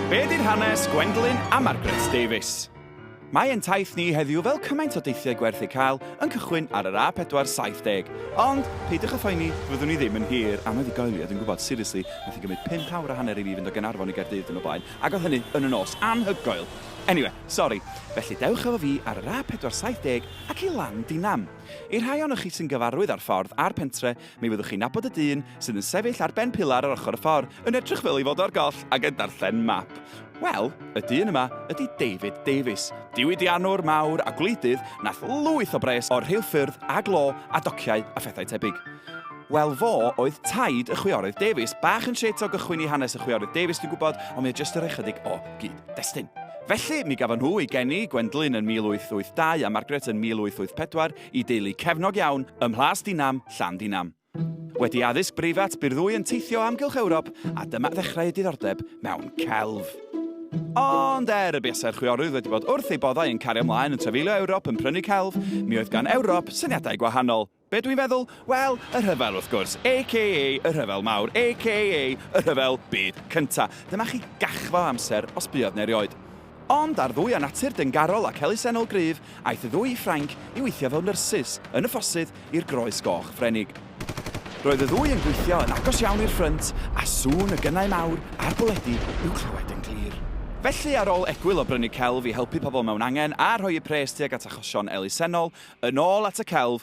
Be ydy'r hanes Gwendolyn a Margaret Davies? Mae ein taith ni heddiw fel cymaint o deithiau gwerth eu cael yn cychwyn ar yr A470. Ond, peidiwch â phoeni, fyddwn ni ddim yn hir am anhygoel i, a dwi'n gwybod, seriously, wnaeth hi gymryd pump awr a hanner i fi fynd o Gaernarfon i Gaerdydd diwrnod blaen, ac oedd hynny yn y nos! Anhygoel! Anyway, sori. Felly, dewch efo fi ar yr A470 ac i Landinam. I'r rhai ohonoch chi sy'n gyfarwydd â'r ffordd a'r pentre, Mi fyddwch chi'n nabod y dyn sydd yn sefyll ar ben pilar ar ochr y ffordd, yn edrych fel ei fod o'r goll ac yn darllen map. Wel, y dyn yma ydy David Davies, diwydiannwr mawr a gwleidydd nath lwyth o bres o'r rheilffyrdd a glo a dociau a phethau tebyg. Wel, fo oedd taid y chwiorydd Davies. Bach yn shit o gychwyn i hanes y chwiorydd Davies, dwi'n gwybod, ond mae o jyst yn rhoi chydig o gyd-destun. Felly, mi gafon nhw ei geni, Gwendlyn yn 1882 a Margaret yn 1884, i deulu cefnog iawn ym Mhlas Dinam, Llandinam. Wedi addysg breifat, bu'r ddwy yn teithio o amgylch Ewrop a dyma ddechrau eu diddordeb mewn celf. Ond er y buasai'r chwiorydd wedi bod wrth ei boddau yn cario ymlaen yn trafeilio Ewrop yn prynu celf, mi oedd gan Ewrop syniadau gwahanol. Be dwi'n feddwl? Wel, y rhyfel wrth gwrs, aka y rhyfel mawr, aka y rhyfel byd cynta. Dyma chi gachfa o amser os buodd 'na erioed. Ond ar ddwy â natur deungarol ac elusennol gryf, aeth y ddwy i Ffrainc i weithio fel nyrsys yn y ffosydd i'r Groes Goch Frenig. Roedd y ddwy yn gweithio yn agos iawn i'r ffrynt, a sŵn y gynnau mawr a'r bwledi i'w clywed yn glir. Felly, ar ôl egwyl o brynu celf i helpu pobl mewn angen a rhoi eu pres tuag at achosion elusennol, yn ôl at y celf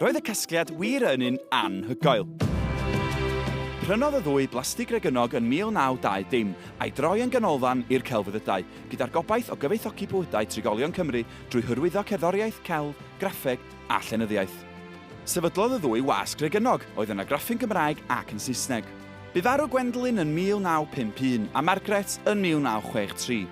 Roedd y casgliad wir yn un anhygoel. Prynodd y ddwy blastig regynog yn 1920 a'i droi yn ganolfan i'r celfyddydau, gyda'r gobaith o gyfoethogi bywydau trigolion Cymru drwy hyrwyddo cerddoriaeth, celf, graffeg a llenyddiaeth. Sefydlodd y ddwy wasg regynog, oedd yn argraffu'n Gymraeg ac yn Saesneg. Bu farw Gwendolyn yn 1951 a Margaret yn 1963.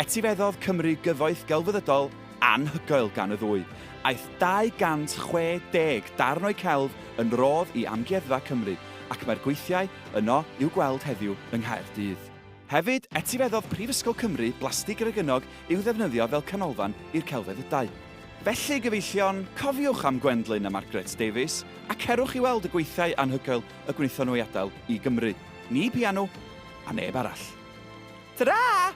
Etifeddodd Cymru gyfoeth gelfyddydol anhygoel gan y ddwy. Aeth 260 darn o'u celf yn rodd i Amgueddfa Cymru ac mae'r gweithiau yno i'w gweld heddiw yng Nghaerdydd. Hefyd, etifeddodd Prifysgol Cymru blastig regynog i'w ddefnyddio fel canolfan i'r celfyddydau. Felly, gyfeillion, cofiwch am Gwendlyn a Margaret Davies a cerwch i weld y gweithiau anhygoel y gwnaethon nhw ei adael i Gymru. Ni pianu, a neb arall. Tara!